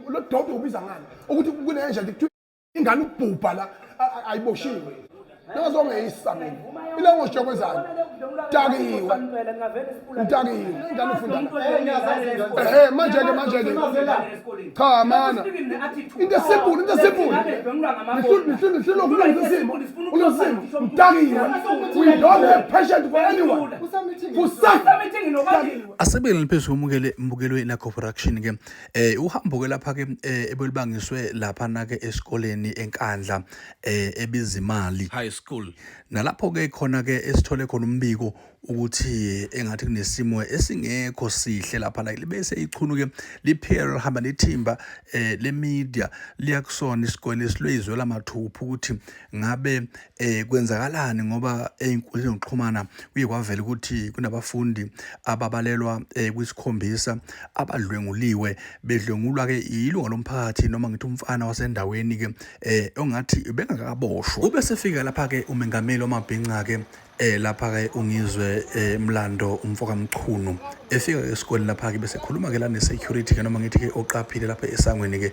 lo dodo ubiza ngani ukuthi kunenja kuthiwa ingane ubhubha la ayiboshiwe ningazongeyisa mina ile ngosho kwenzayo dakiwe udakiwe ingane ufunda ehe manje ke manje ke cha mana into simple into simple nihlule nihlule ukulungisa isimo ukulungisa isimo udakiwe we don't have patience for anyone for something Asibele phezu komukele mbukelwe na corporation ke eh uhambo ke lapha ke eh, ebelibangiswe lapha na ke esikoleni eNkandla eh ebizimali high school nalapho ke khona ke esithole khona umbiko ukuthi engathi kunesimo esingekho sihle lapha la libese ichunu ke liphela lihamba nethimba eh le media liyakusona isikole silwezwe lamathupha ukuthi ngabe eh kwenzakalani ngoba ezinkundleni zokuxhumana kuye kwavela ukuthi kunabafundi ababalelwa eh, kwisikhombisa abadlwenguliwe bedlwengulwa ke ilunga lomphakathi noma ngithi umfana wasendaweni ke eh ongathi bengakaboshwa ube sefika lapha ke umengameli wamabhinca ke eh lapha ke ungizwe eh, mlando umfoka mchunu efika esikoleni lapha ke bese khuluma ke la ne security ke noma ngithi ke oqaphile lapha esangweni ke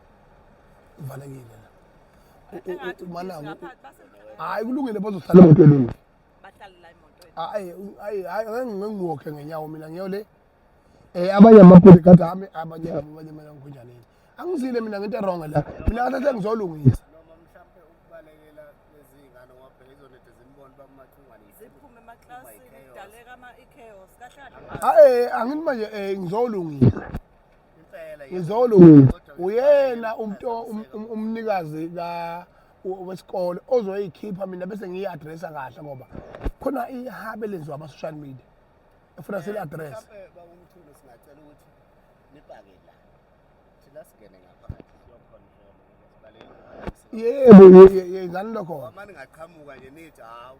uvalekile la umanako hayi kulungile bazohlala emotweni mina hayi hayi hayi ngeke ngiwokhe ngenyawo mina ngiyo le eh abanye amapodi kade ami abanye abanye mina ngikhonjaneni angizile mina ngento wrong la mina ngathi sengizolungisa hayi angithi manje eh ngizolungisa ngizolunga uyena umntu um, um, umnikazi ka wesikole ozoyikhipha mina bese ngiyi-adressa kahle ngoba khona ihabe lenziwa ama-social media efuna sili-adressa yebo yenzani lokho mani ngaqhamuka nje nithi hawu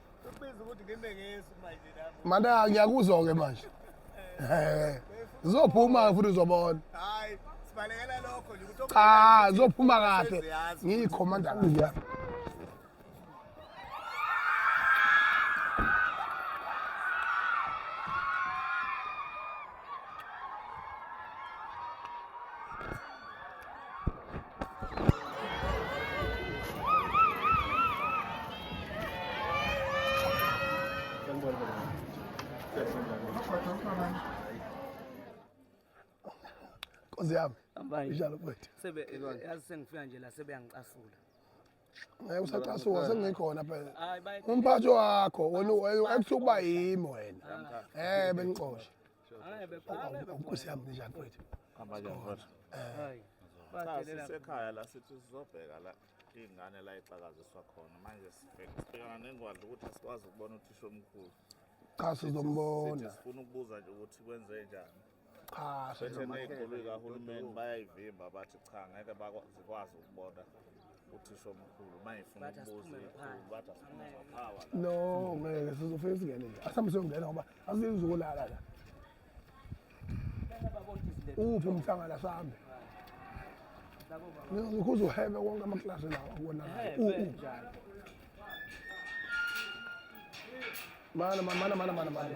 Mana ngiyakuzwa-ke manje eh. zizophuma-ke futhi uzobona cha zizophuma kahle ngiyikhomanda kahle Nkosi yami. Hambani. Njalo mfethu. Sebe yazi sengifika nje la sebeyangicasula. ngeke usacasuka sengikhona phela umphathi wakho wena ekuthiwa uba yimi wena um bengixoshe nkosi yami ninjani mfethu sisekhaya la sithi sizobheka la iy'ngane la ixakaziswa khona manje sibhekana nengwadla ukuthi asikwazi ukubona uthisha omkhulu cha sizombona sifuna ukubuza nje ukuthi kwenze njani cha bethe ney'nkulu kahulumeni bayayivimba bathi cha ngeke zikwazi ukubona uthisha omkhulu uma ngifuna ukubuza ikhulu bathi asiphume ngaphawa no ngeke sizofike singene nje asambe siyongena ngoba asiyenzi ukulala la uphi umhlangana sambe ngikhuza uhebe wonke amaklasi lawa kubonakala mana mana mana mana mana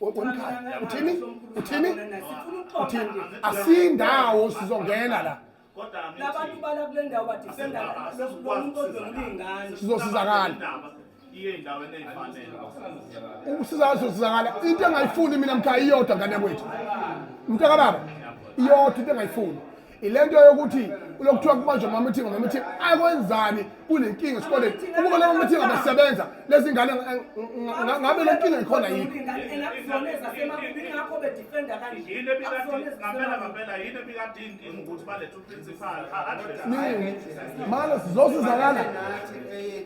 womkhaya uthini uthini uthini asindawo sizongena la labantu bala kule ndawo badifenda lo muntu ozomlingana sizosizakala iye endaweni eyifanele ukusizakala sizosizakala into engayifuni mina mkhaya iyodwa ngane kwethu mntakababa iyodwa into engayifuni ilento yokuthi kulokuthiwa kubanjwa amamithingo ngemithingo akwenzani kunenkinga esikoleni ukuba lawo mithingo abasebenza lezi ngane ngabe le nkinga ikhona yikho manje sizosizakala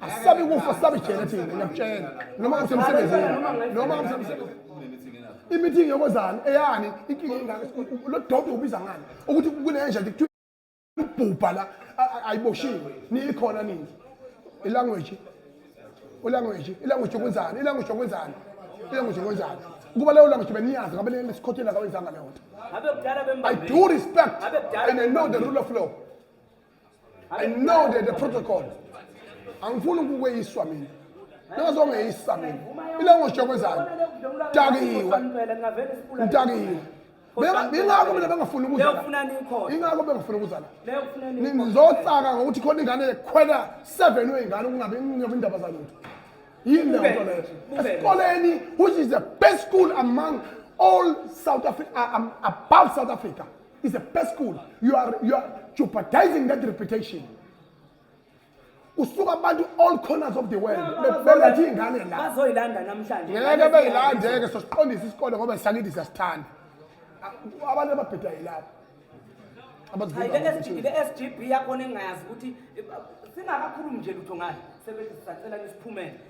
asabi kufa asabi jele thina ngiyakutshela noma usemsebenzini noma usemsebenzini imithingi yokozana eyani inkinga ingaka lo dodo ubiza ngani ukuthi kunenja kuthiwa ubhubha la ayiboshiwe niyikhona nini ilanguage ulanguage ilanguage yokwenzani ilanguage yokwenzani ilanguage yokwenzani kuba leyo language beniyazi ngabe lesikhotheni akawenzanga leyo nto i do respect and i know the rule of law I know that the protocol angifuni ukukweyiswa mina ningazongeyisa mina ila ngoshokwezani dakiwe ngidakiwe bengako mina bengafuni ukuzingako bengafuni ukuzala ngizotsaka ngokuthi khona ingane ekhwela seven weyingane ukungabi ngiyobe indaba zalutho yini leyo nto leyo esikoleni which is the best school among all south africa uh, um, above south africa is a best school you are, you are jeopardizing that reputation usuka abantu all corners of the world bebeletha iy'ngane la bazoyilanda namhlanje ngeke beyilandeke sosiqondisa isikole ngoba sisakithi siyasithanda A- abantu ababheda yilabo Hayi, le SG le SGB yakhona engayazi ukuthi eh, singakakhulumi nje lutho ngayo sebenzisa sacela nisiphumele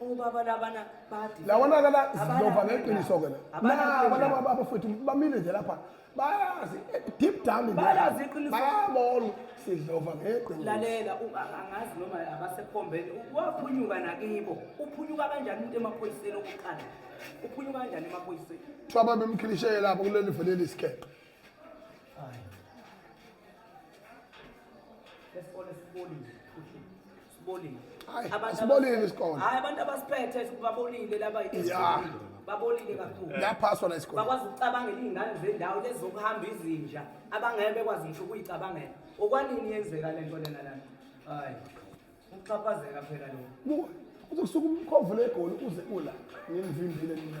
ubaba labana badi lawana kala zilova ngeqiniso ke la abana baba futhi bamile nje lapha bayazi eh, deep down in bayazi iqiniso bayabona sidlova ngeqiniso lalela angazi noma abasekhombeni waphunyuka nakibo uphunyuka kanjani umuntu emaphoyiseni okuqala uphunyuka kanjani emaphoyiseni kuthiwa babemkhilishele lapho kuleli veleli isikeqe lesikole sibolile sibolile Hayi, Abantu sibolile abasiphethe- isikole. hayi abantu abasiphethe babolile laba Yeah. babolile kakhulu Yaphaswa la isikole. bakwazi ukucabangela iy'ngane zendawo lezi zokuhamba izinja abangeke bekwazi ngisho ukuyicabangela okwanini yenzeka le nto lena lana hayi ukuxhaphazeka phela lo Buka, uzokusuka umkhovu legoli uze ula. Ngimvimbile mina.